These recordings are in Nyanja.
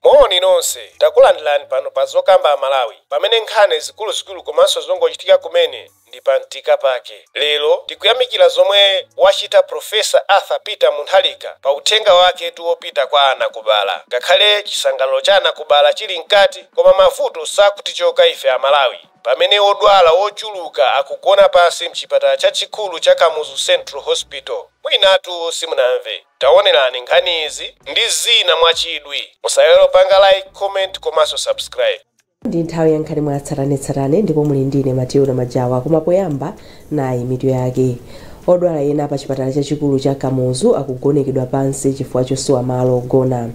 moni nonse takulandirani pano pa zokamba amalawi pamene nkhani zikuluzikulu komanso zongochitika kumene ndi pa mtima pake lero tikuyamikira zomwe wachita profesa arthur peter mutharika pa uthenga wake wopita kwa anakubala ngakhale chisangalalo cha anakubala chili mkati koma mavuto sakutichoka ife amalawi Pamene odwala ochuluka akugona pansi m'chipatala chachikulu cha Kamuzu Central Hospital, mwinatu simunamve. Tawonerani nkhani izi ndi zina mwa chidwi. Musaiwale kupanga like, comment komanso subscribe. Ndi nthawi ya nkhani mwa tsatanetsatane ndipo muli ndi ine Matilda Majawa koma poyamba Nayi mitu yake. Odwala ena pa chipatala chachikulu cha Kamuzu akugonekedwa pansi chifukwa chosowa malo ogona.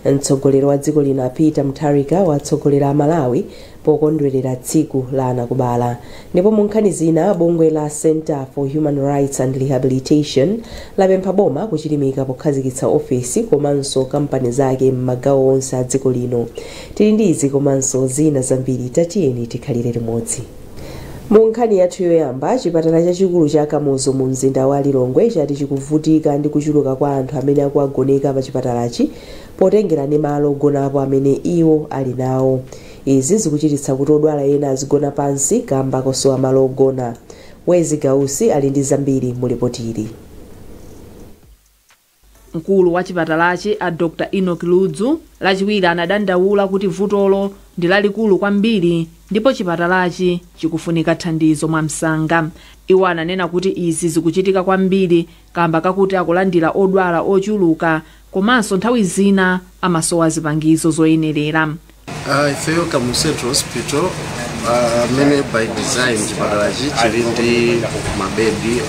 Mtsogoleri wa dziko lino a Peter Mutharika watsogolera a Malawi pokondwelera tsiku la anakubala. Ndipo mu nkhani zina bungwe la Centre for Human Rights and Rehabilitation lapempha boma kuchilimika pokhazikitsa ofesi komanso kampani zake m'magawo onse a dziko lino. Tili ndi izi komanso zina zambiri tatiyeni tikhalire limodzi. Mu nkhani yathu yoyamba, chipatala chachikulu cha Kamuzu mu mzinda wa Lilongwe chati chikuvutika ndi kuchuluka kwa anthu amene akuwagoneka pa chipatalachi potengera ndi malo ogonapo amene iwo ali nawo. Izi zikuchititsa kuti odwala ena azigona pansi kamba kosowa malo ogona. Wezi Gausi ali ndi zambiri mu lipotili. Mkulu wa chipatalachi a Dr Enock Ludzu lachiwiri anadandaula kuti vutolo ndi lalikulu kwambiri ndipo chipatalachi chikufunika thandizo mwamsanga. Iwo ananena kuti izi zikuchitika kwambiri kamba kakuti akulandira odwala ochuluka komanso nthawi zina amasowa zipangizo zoyenelera. Uh, ifeyo kamuzu central hospital uh, amene by design chipatalachi chili ndi mabedi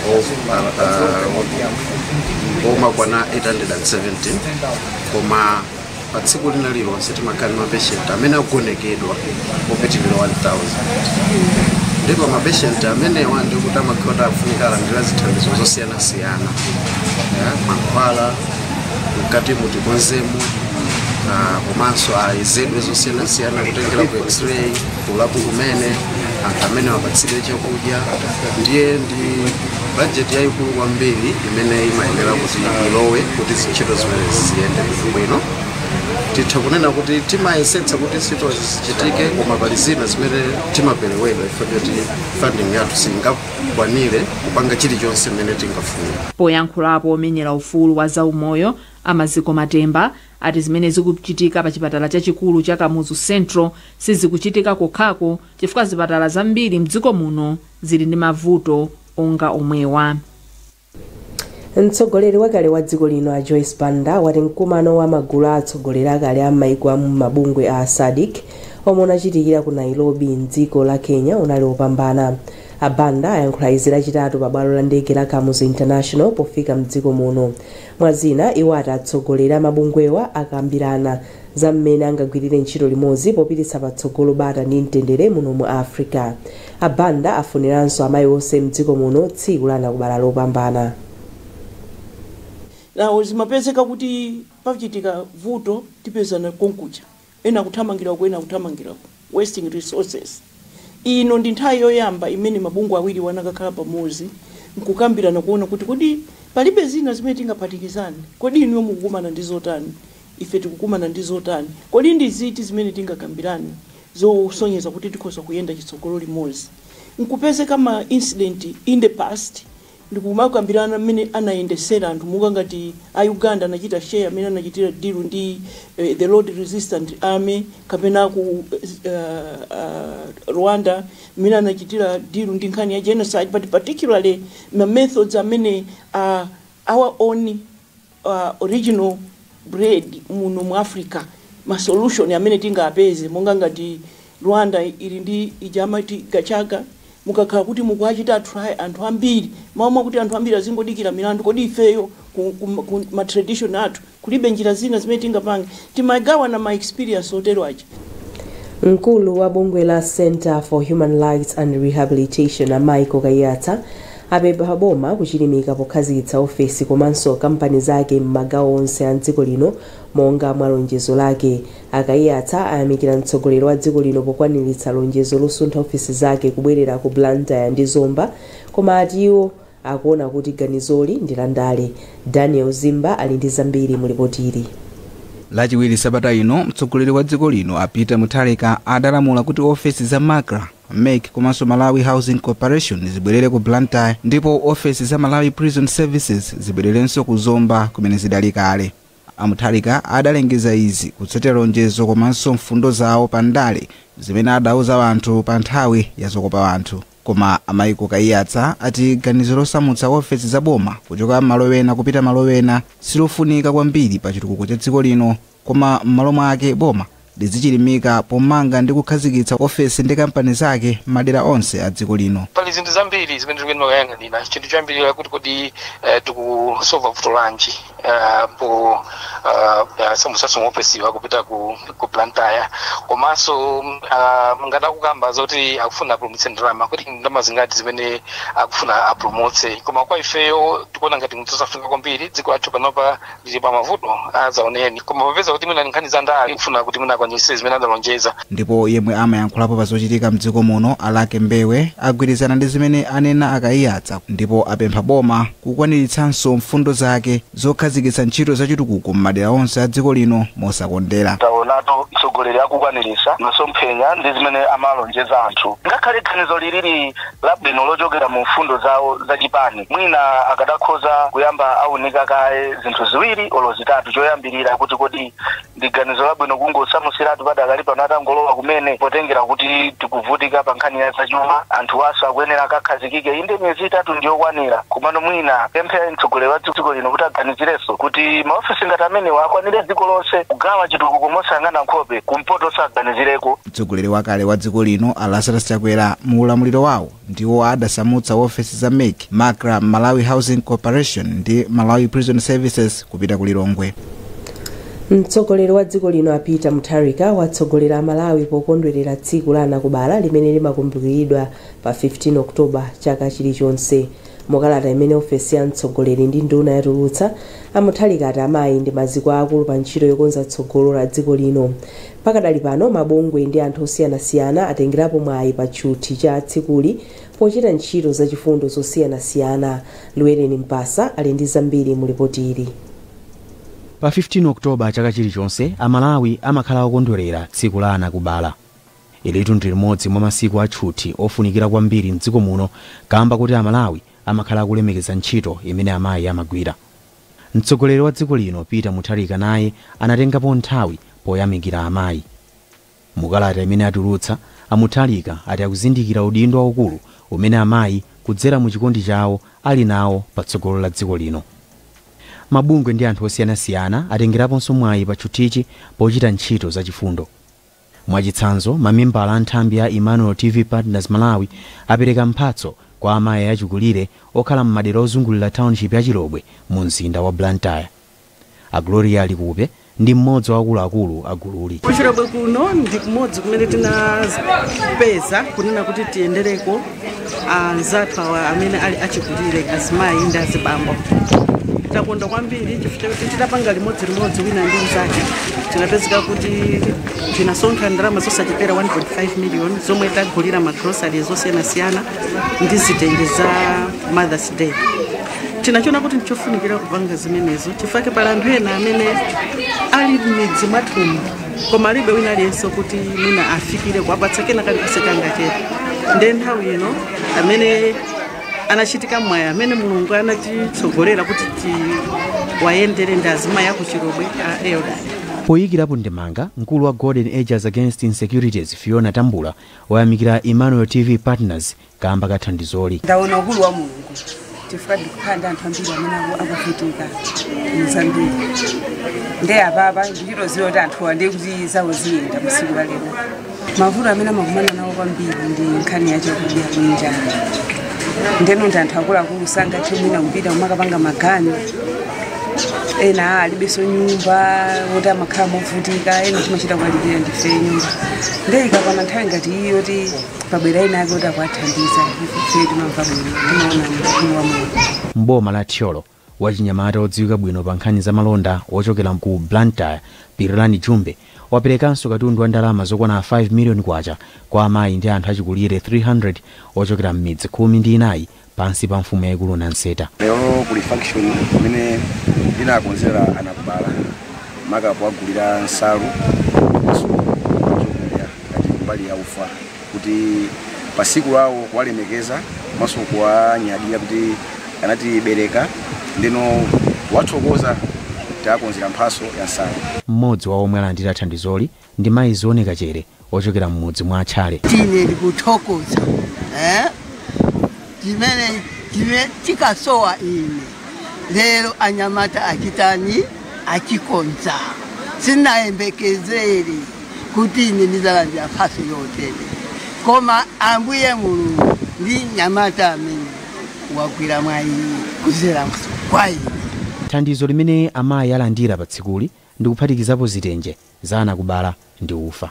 omakwana 870 koma pa tsiku lina lilonse timakhala ndi mapeshenti amene agonekedwa opitirira 1000 ndipo mapeshenti amenewa ndikuti amakhala afunika alandira zithandizo zosiyanasiyana mankhwala mkati mu tikonzemo komanso ayezedwe zosiyanasiyana kutengera ku x-ray kulabu kumene anthu amene apatsidwe chakudya ndiye ndi bajeti yayikulu kwambiri imene imayenera kuti ilowe kuti zintchito zimene ziyende bwino titha kunena kuti timayesetsa kuti zintchito zichitike koma pali zina zimene timaperewera ifeyo choti funding yathu singa kwanire kupanga chilichonse mmene tingafune. Poyankhulapo omenyera ufulu wa za umoyo a Maziko Matemba ati zimene zikuchitika pa chipatala chachikulu cha Kamuzu Central sizikuchitika kokhako chifukwa zipatala zambiri mdziko muno zili ndi mavuto onga omwewa. Mtsogoleri wakale wa dziko lino a Joyce Banda wati mkumano wa magulu a atsogoleri akale a m'maiko a mu mabungwe a SADC omwe unachitikira ku Nairobi m'dziko la Kenya unali wopambana. A Banda ayankhula izi lachitatu pa bwalo la ndege la Kamuzu International pofika m'dziko muno. Mwa zina, iwo ati atsogoleri a mabungwewa akambirana za mmene angagwirire ntchito limodzi popititsa patsogolo bata ndi mtendere muno mu Africa. A Banda afuniranso amayi onse m'dziko muno tsiku la anakubala lopambana. Nawo zimapezeka kuti pachitika vuto tipezana konkuja ena akuthamangira uku ena akuthamangira uku wasting resources. Ino ndi nthawi yoyamba imene mabungwe awiriwa anakakhala pamodzi nkukambirana kuona kuti kodi palibe zina zimene tingaphatikizane? Kodi inuyo mukukumana ndi zotani? Ife tikukumana ndi zotani? Kodi ndi ziti zimene tingakambirane zosonyeza kuti tikhoza kuyenda chitsogolo limodzi nkupezeka ma incident in the past ndikumakambirana mmene anayendesera anthu monga ngati a Uganda anachita share mmene anachitira deal ndi the Lord Resistance Army kapena aku Rwanda mmene anachitira deal ndi nkhani ya genocide but particularly ma methods amene a our own original bred muno mu Africa, ma solution amene tingapeze monga ngati Rwanda ili ndi ija amati Gacaca, mukakhala kuti mukuwachita try anthu ambiri, mmalo mwakuti anthu ambiri azingodikira milandu, kodi ifeyo ku, ku, ku ma tradition athu kulibe njira zina zimene tingapange? Timagawana ma experience otero aja. Mkulu wa bungwe la Centre for Human Rights and Rehabilitation a Michael Kaiyatsa apempha boma kuchilimika pokhazikitsa ofesi komanso kampani zake m'magawo onse a dziko lino monga mwa lonjezo lake. A Kaiyatsa ayamikira mtsogoleri wa dziko lino pokwaniritsa lonjezo losuntha ofesi zake kubwerera ku Blantyre ndi Zomba koma ati iwo akuona kuti ganizoli ndi la ndale. Daniel Zimba ali ndi zambiri mu lipotili. Lachiwiri sabata ino, mtsogoleri wa dziko lino a Peter Mutharika adalamula kuti ofesi za MACRA, MEC komanso Malawi Housing Corporation zibwerere ku Blantyre ndipo ofesi za Malawi Prison Services zibwererenso ku Zomba kumene zidali kale. A Mutharika adalengeza izi kutsatira lonjezo komanso mfundo zawo pa ndale zimene adauza anthu pa nthawi ya zokopa anthu. Koma a Michael Kaiyatsa ati ganizo losamutsa ofesi za boma kuchoka malo ena kupita malo ena silofunika kwambiri pa chitukuko cha dziko lino koma m'malo mwake boma lizichilimika pomanga ndi kukhazikitsa ofesi ndi kampani zake madera onse a dziko lino. pali zinthu zambiri zimene tikuyenera kuyang'anira chinthu choyambirira kuti kodi eh, tikusova vuto lanji uh, ku uh, uh, kusamutsa maofesiwa kupita ku, ku blantyre komanso uh, ngati akukamba zoti akufuna apulumutse ndalama kodi ndalama zingati zimene akufuna apulumutse koma kwa ifeyo tikuona ngati ndi zosafunika kwambiri dziko lathu panopa lili pa mavuto azaoneni koma popeza kuti mwina nkhani za ndale kufuna kuti mwina akwaniritse zimene adalonjeza Ndipo yemwe amayankhulapo pa zochitika mdziko muno a Lucky Mbewe agwirizana ndi zimene anena a Kaiyatsa ndipo apempha boma kukwaniritsanso mfundo zake zokhazikitsa ntchito za chitukuko m'madera onse a dziko lino mosakondera. Taonatu mtsogoleri akukwaniritsa masomphenya ndi zimene amalonjeza anthu. Ngakhale ganizo liliri labwino lochokera mu mfundo zawo za chipani, mwina akadakhoza kuyamba aunika kaye zinthu ziwiri olo zitatu choyambirira kuti kodi ndi ganizo labwino kungosamusiratu padakali pano atangolowa kumene potengera kuti tikuvutika pa nkhani ya zachuma anthu awonso akuyenera akakhazikike inde miyezi itatu ndiyokwanira komano mwina kupempha mtsogoleri wa dziko lino kuti aganizirenso kuti maofesi ngati amenewa akwanire dziko lonse kugawa chitukuko mosayang'ana nkhope kumpoto awaganizireko mtsogoleri wakale wa dziko lino a lazarus chakwera mu ulamuliro wawo ndiwo adasamutsa ofesi za mec macra malawi housing corporation ndi malawi prison services kupita ku lilongwe mtsogoleri wa dziko lino a peter mutharika watsogolera amalawi pokondwerera tsiku la anakubala limene limakumbukiridwa pa 15 oktoba chaka chilichonse mukalata imene ofesi ya mtsogoleri ndi nduna yatulutsa amutharika ati amayi ndi maziko aakulu pa ntchito yokonza tsogolo la dziko lino Pakadali pano, mabungwe ndi anthu osiyanasiyana atengerapo mwayi pa tchuthi cha tsikuli pochita ntchito za chifundo zosiyanasiyana. Llewellyn Mpasa ali ndi zambiri mu lipoti ili. Pa 15 October chaka chilichonse, a Malawi amakhala okondwelera tsiku la anakubala. Ilitu ndi limodzi mwa masiku a tchuthi ofunikira kwambiri m'dziko muno kaamba kuti a Malawi amakhala akulemekeza ntchito imene amayi amagwira. Mtsogoleri wa dziko lino Peter Mutharika naye anatengapo nthawi poyamikira amayi. Mu kalata imene atulutsa, a Mutharika ati akuzindikira udindo waukulu umene amayi kudzera mu chikondi chawo ali nawo pa tsogolo la dziko lino. Mabungwe ndi anthu osiyanasiyana atengeraponso mwayi pa tchuthichi pochita ntchito za chifundo. Mwachitsanzo, mamembala a nthambi ya Emmanuel TV Partners Malawi apereka mphatso kwa amayi achikulire okhala m'madera ozungulira township ya Chilobwe mu mzinda wa Blantyre. A Gloria Likupe ndi mmodzi wa akuluakulu a gululi. Ku Chilobwe kuno ndi kumodzi kumene tinapeza kunena kuti tiyendereko anzathu awa amene ali achikulire azimayi ndi azibambo takondwa kwambiri chifukwa choti titapanga limodzi limodzi wina ndi mzake tinapezeka kuti tinasonkha ndalama zosachepera 1.5 million zomwe tagulira magrosari zosiyanasiyana ndi zitenje za mothers day tinachiona kuti ndichofunikira kupanga zimenezo chifukwa pali anthu ena amene ali m'midzi mwathumu koma alibe wina aliyense kuti mwina afikire kuwapatsa kena kalikonse kangachepe nde nthawi ino amene anachitika mwayi amene mulungu anatitsogolera kuti tiwayendere ndi azimayi akuchilobwe a elda poyikirapo ndemanga mkulu wa golden ages against insecurities fiona tambula wayamikira emmanuel tv partners kaamba ka thandizoli. Ndaona ukulu wa Mulungu chifukwa ndikukhala ndi anthu ambiri amene aku- akuvutika muzambiri nde apapa ndikuchita kudziwa kuti anthuwa ndi kuti zawo ziyenda tsiku la lero mavuto amene amakumana nawo kwambiri ndi nkhani ya chakudya kunja ndeno ndi anthu akuluakulu sangathe mwina kupita kumakapanga maganyu ena alibenso nyumba moti amakhala movutika ena timachita kuwalipira ndife nyumba nde ikakwana nthawi ngati iyi yoti pabwera ena ake kuti akuwathandiza ife timamva bwino timaona ukulu wa mulungu m'boma la thyolo wachinyamata wodziwika bwino pa nkhani za malonda wochokera ku blantyre pirilani jumbe waperekanso katundu wa ndalama zokwana 5 million kwacha kwa amayi ndi anthu achikulire 300 ochokera m'midzi khumi ndi inayi pansi pa mfumu yaikulu Nanseta. lero kuli function imene ndinakonzera anakubala maka kuwagulira nsalu komanso chakudya ngati mbali ya ufa kuti pa siku lawo kuwalemekeza komanso kuwanyadira kuti anatibereka ndeno kuwathokoza tawakonzera mphatso ya nsalu Mmodzi wa omwe alandira thandizoli ndi mayi Zione Kachere ochokera m'mudzi mwa a Tchale. Ine ndikuthokoza eh? chimene chimene chikasowa ine lero anyamata achitani achikonza sinayembekezere kuti ine ndizalandira mphatso yotere koma ambuye mulungu ndi nyamata amene wagwira mwayi kudzera kwa ine Thandizo limene amayi alandira pa tsikuli ndi kuphatikizapo zitenje, za anakubala ndi ufa.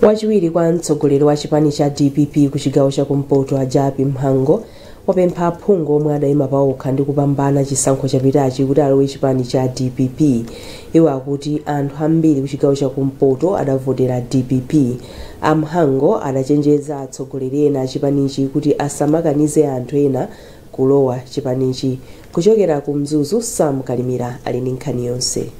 Wachiwiri kwa mtsogoleri wa chipani cha dpp ku chigawo cha kumpoto a Jappie Mhango wapempha aphungu omwe adaima paokha ndi kupambana chisankho chapitachi kuti alowe chipani cha dpp. Iwo akuti anthu ambiri kuchigawo cha kumpoto adavotera dpp. A Mhango adachenjeza atsogoleri ena achipanichi kuti asamakanize anthu ena kulowa chipanichi. Kuchokera ku Mzuzu, Sam Kalimira ali ndi nkhani yonse.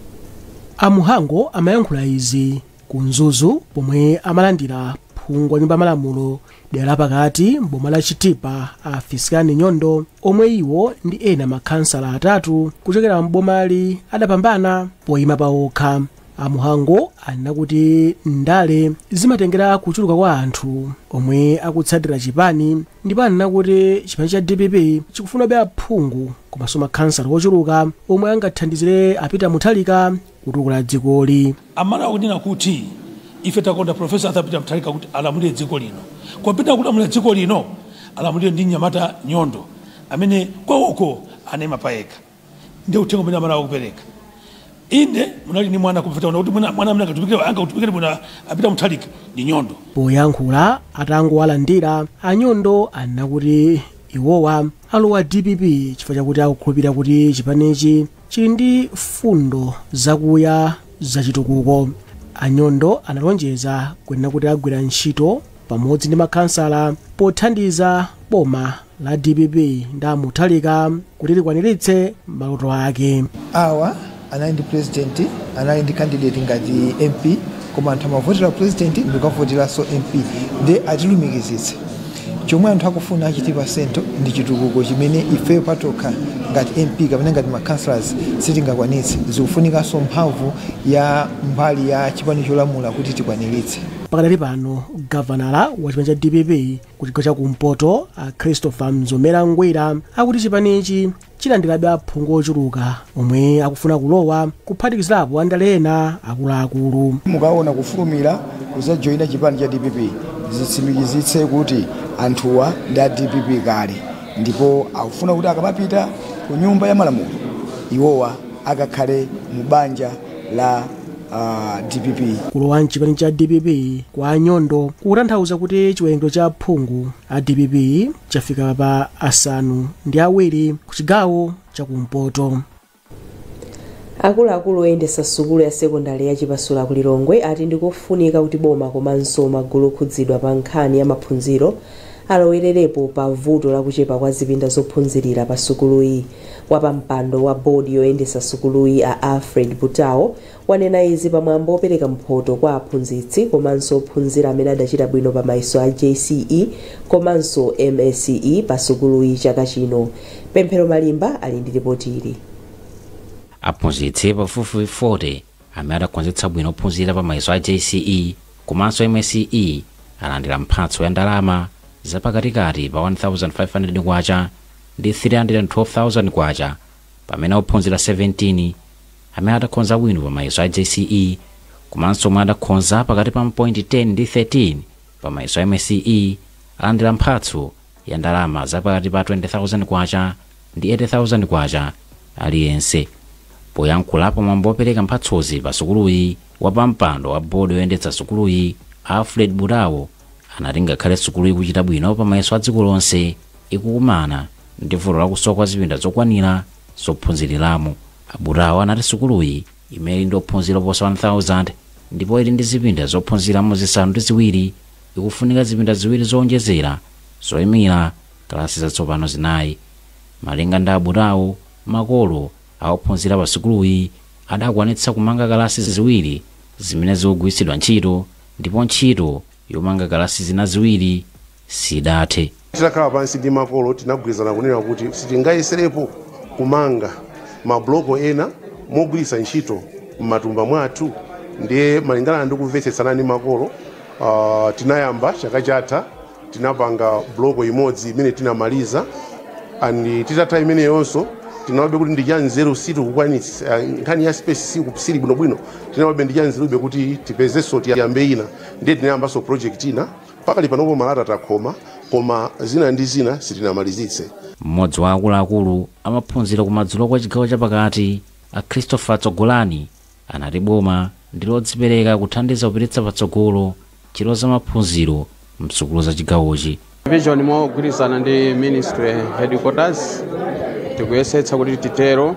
A Mhango amayankhula izi ku Mzuzu pomwe amalandira phungu wa nyumba ya malamulo dera la pakati m'boma la Chitipa a Fiskani Nyondo omwe iwo ndi ena makhansala atatu kuchokera m'bomali adapambana poyima pawokha. a mhango anena kuti ndale zimatengera kuchuluka kwa anthu omwe akutsatira chipani ndipo anena kuti chipani cha dpp chikufunabe aphungu komanso makhansala ochuluka omwe angathandizire a peter mutharika kutukula dzikoli amalawi akunena kuti ife takonda profesa arthur peter mutharika kuti alamulire dziko lino kopita kulamulira dziko lino alamulire ndi mnyamata nyondo amene kwawo uko anayima payekha ndi uthenga umene amalawi akupereka inde munali ndi mwana kumveta kuti mwana mwana amene akatumikire angakutumikire bwino a peter mutharika ndi nyondo poyankhula atangowalandira a nyondo anena kuti iwowa alowa dpp chifukwa chakuti akukhulupirira kuti chipanichi chili ndi mfundo zakuya zachitukuko a nyondo analonjeza kunena kuti agwira ntchito pamodzi ndi makhansala pothandiza boma la dpp ndi a mutharika kuti likwaniritse maloto ake awa anali ndi president anali ndi candidate ngati mp koma anthu amavotera president ndikukavoteranso mp ndiye atilumikizitse chomwe anthu akufuna a chitipa central ndi chitukuko chimene ife patokha ngati mp kapena ngati ma councillors sitingakwanitse zikufunikanso mphamvu ya mbali ya chipani cholamula kuti tikwaniritse pakadali pano gavanala wa chipani cha dpp ku chigawo cha kumpoto a christopher mzomera ngwira akuti chipanichi chilandirabe aphungu ochuluka omwe akufuna kulowa kuphatikizirapo andale ena akuluakulu mukaona kufulumira kuzajoyina chipani cha dpp zitsimikizitse kuti anthuwa ndi a dpp kale ndipo akufuna kuti akamapita ku nyumba ya malamulo iwowa akakhale mu banja la uh, dpp kulowa mchipani cha dpp kwa a nyondo kukutanthauza kuti chiwerengero cha aphungu a dpp chafika pa asanu ndi awiri ku chigawo chakumpoto akuluakulu oyendetsa sukulu ya sekondari ya chipasula ku lilongwe ati ndikofunika kuti boma komanso magulu okhudzidwa pa nkhani ya maphunziro alowererepo pa vuto lakuchepa kwa zipinda zophunzirira pa sukuluyi Wapampando wa board yoyendetsa sukuluyi a Alfred Butao wanena izi pa mwambo opereka mphoto kwa aphunzitsi komanso ophunzira amene adachita bwino pa mayeso a jce komanso msce pa sukuluyi chaka chino. Pemphero Malimba ali ndi lipoti ili. Aphunzitsi pafupifupi 40 Amene adakhonzetsa bwino ophunzira pa mayeso a JCE komanso MSCE alandira mphatso ya ndalama zapakatikati pa K1,500 ndi K312,000 pamene ophunzira 17 amene adakhonza bwino pa mayeso a JCE komanso omwe adakhonza pakati pa mapointi 10 ndi 13 pa mayeso a MSCE alandira mphatso ya ndalama za pakati pa K20,000 ndi K80,000 aliyense. Poyankhula pa mwambo opereka mphatsozi pa sukuluyi, wapampando wa board yoyendetsa sukuluyi, a Alfred Butao, anati ngakhale sukuluyi ikuchita bwino pa mayeso a dziko lonse, ikukumana ndi vuto la kusowa kwa zipinda zokwanira zophunziriramo. A Butao anati sukuluyi, imene ili ndi ophunzira oposa 1,000, ndipo ili ndi zipinda zophunziriramo zisanu ndi ziwiri, ikufunika zipinda ziwiri zowonjezera zoimira kalasi zatsopano zinayi. Malinga ndi a Butao, makolo a ophunzira pa sukuluyi adakwanitsa kumanga kalasi ziwiri zimene zikugwiritsidwa ntchito ndipo ntchito yomanga kalasi zina ziwiri sidathe. Titakhala pansi ndi makolo, tinagwirizana kunena kuti sitingayeserepo kumanga mabuloko ena mogwiritsa ntchito m'matumba mwathu. Ndiye malingana ndi kumvetsetsana ndi makolo, uh, tinayamba chaka chatha tinapanga buloko imodzi imene tinamaliza and titatha imeneyonso tinaonabe kuti ndi chanzeru sitikukwanitsa eh, nkhani ya space siku- sili bwinobwino tinaonabe ndi chanzerube kuti tipezenso tiyambe ina ndiye tinayambanso project ina Pakali panopo malata takhoma koma zina ndi zina sitinamalizitse. M'modzi wa akuluakulu a maphunziro kumadzulo kwa chigawo chapakati a Christopher Tsogolani anati boma ndi lodzipereka kuthandiza kupititsa patsogolo ntchito za maphunziro m'sukulu za chigawochi. Division mogwirizana ndi Ministry Headquarters tikuyesetsa kuti titero.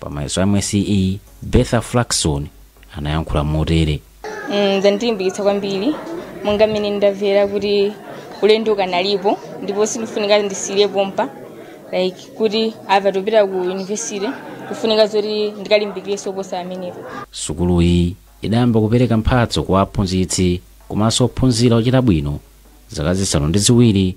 Pa mayeso a MSCE, Bertha Flaxon anayankhula motere. Mm, zandilimbikitsa kwambiri monga mmene ndamvera kuti ulendo ukanalipo ndipo sindikufunika ndisiyire pompa like kuti apa topita ku university kufunika zoti ndikalimbikirenso kuposa amenepo Sukuluyi idayamba kupereka mphatso kwa aphunzitsi komanso ophunzira ochita bwino zaka zisanu ndi ziwiri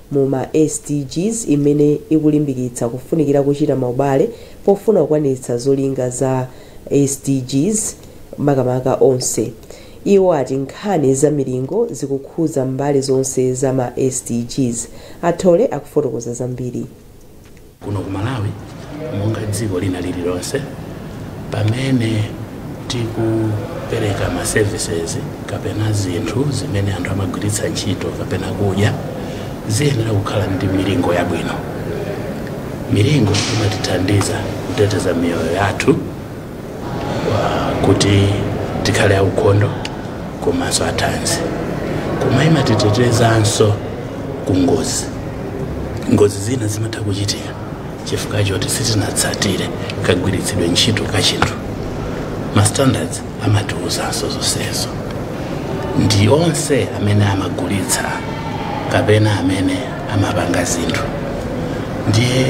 mu ma SDGs imene ikulimbikitsa kufunikira kuchita maubale pofuna kukwaniritsa zolinga za SDGs makamaka onse. Iwo ati nkhani za milingo zikukhuza mbali zonse za ma SDGs. A Thole akufotokoza zambiri. Kuno ku Malawi monga dziko lina lililonse, pamene tikupereka ma services kapena zinthu zimene anthu amagwiritsa ntchito kapena kudya ziyenera kukhala ndi milingo yabwino. Milingo imatithandiza kuteteza miyoyo yathu kuti tikhale aukhondo komanso athanzi koma imatitetezanso ku ngozi ngozi zina zimatha kuchitika chifukwa choti sitinatsatire kagwiritsidwe ntchito ka chinthu ma standards amatiwuzanso zonsezo ndiye onse amene amagulitsa kapena amene amapanga zinthu ndiye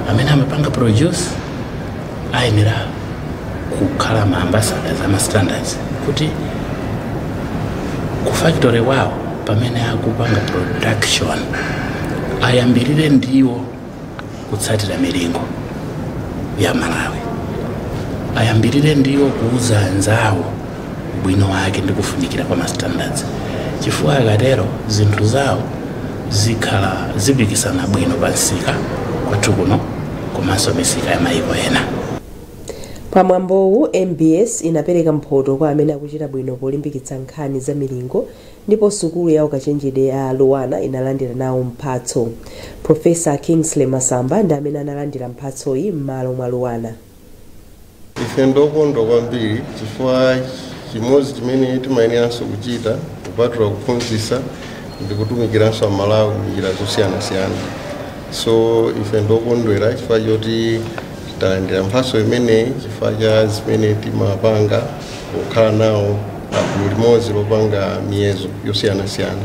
amene amapanga produce ayenera kukhala ma ambassadors ama standards kuti ku factory wawo pamene akupanga production ayambirire ndiwo kutsatira milingo ya malawi ayambirire ndiwo kuuza anzawo ubwino wake ndi kufunikira kwa ma standards chifukwa akatero zinthu zawo zikhala zipikisana bwino pa msika kwathu kuno komanso misika ya mayiko ena. Pa mwambowu, mbs inapereka mphoto kwa amene akuchita bwino polimbikitsa nkhani za milingo ndipo sukulu ya ukachenjede ya Luanar inalandira nawo mphatso. Professor Kingsley Masamba ndi amene analandira mphatsoyi m'malo mwa Luanar. Ife ndokondwa kwambiri chifukwa chimodzi chimene timayeneranso kuchita kupatula kuphunzitsa ndi kutumikiranso amalawi m'njira zosiyanasiyana so ife ndokondwera chifukwa choti talandira mphatso imeneyi chifukwa cha zimene timapanga kukhala nawo pagulu limodzi lopanga miyezo yosiyanasiyana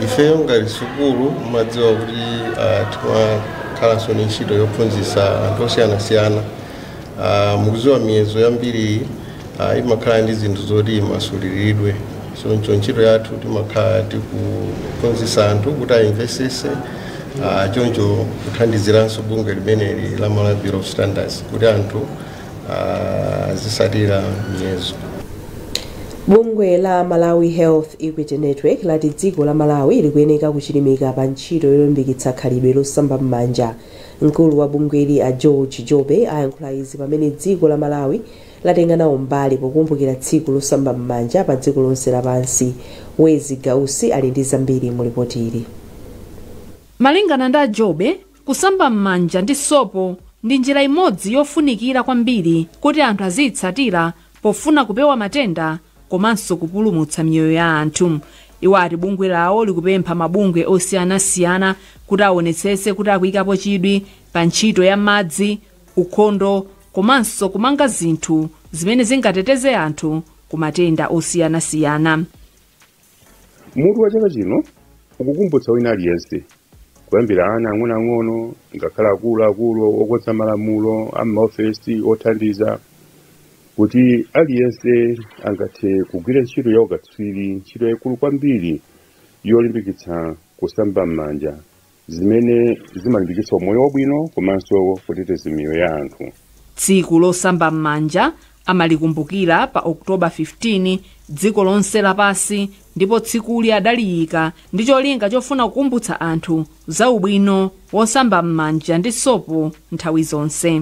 ifeyo ngati sukulu mumadziwa kuti uh, timakhalanso ni ntchito yophunzitsa anthu osiyanasiyana uh, mukudziwa miyezo yambiri uh, imakhala ndi zinthu zoti imasuliridwe choncho ntchito yathu timakhala tikuphunzitsa anthu kuti ayimvesese uh, choncho kuthandiziranso bungwe limeneli la malawi bureau of standards kuti anthu azisatira miyezo bungwe la malawi health equity network lati dziko la malawi likuyeneka kuchilimika pa ntchito yolimbikitsa khalidwe losamba m'manja mkulu wa bungweli a george jobe ayankhula izi pamene dziko la malawi latenga nawo mbali pokumbukira tsiku losamba m'manja pa dziko lonse lapansi wezzie gausi ali ndi zambiri mu lipoti ili malingana ndi a jobe Kusamba m'manja ndi sopo ndi njira imodzi yofunikira kwambiri kuti anthu aziyitsatira pofuna kupewa matenda komanso kupulumutsa miyoyo ya anthu. Iwo ati bungwe lawo likupempha mabungwe osiyanasiyana kuti awonetsetse kuti akuyikapo chidwi pa ntchito ya madzi, ukhondo komanso kumanga zinthu zimene zingateteze anthu ku matenda osiyanasiyana. Mutu wa chaka chino ukukumbutsa wina aliyense, kuyambira ana ang'onoang'ono ngakhale akulu akulu, okonza malamulo, a m'maofesi othandiza, kuti aliyense angathe kugwira ntchito ya ukatswiri, ntchito yaikulu kwambiri yolimbikitsa kusamba m'manja. zimene zimalimbikitsa umoyo wabwino komanso kuteteza miyoyo ya anthu. Tsiku losamba m'manja amalikumbukira pa October 15 dziko lonse lapansi ndipo tsikuli adaliyika ndi cholinga chofuna kukumbutsa anthu za ubwino wosamba m'manja ndi sopo nthawi zonse.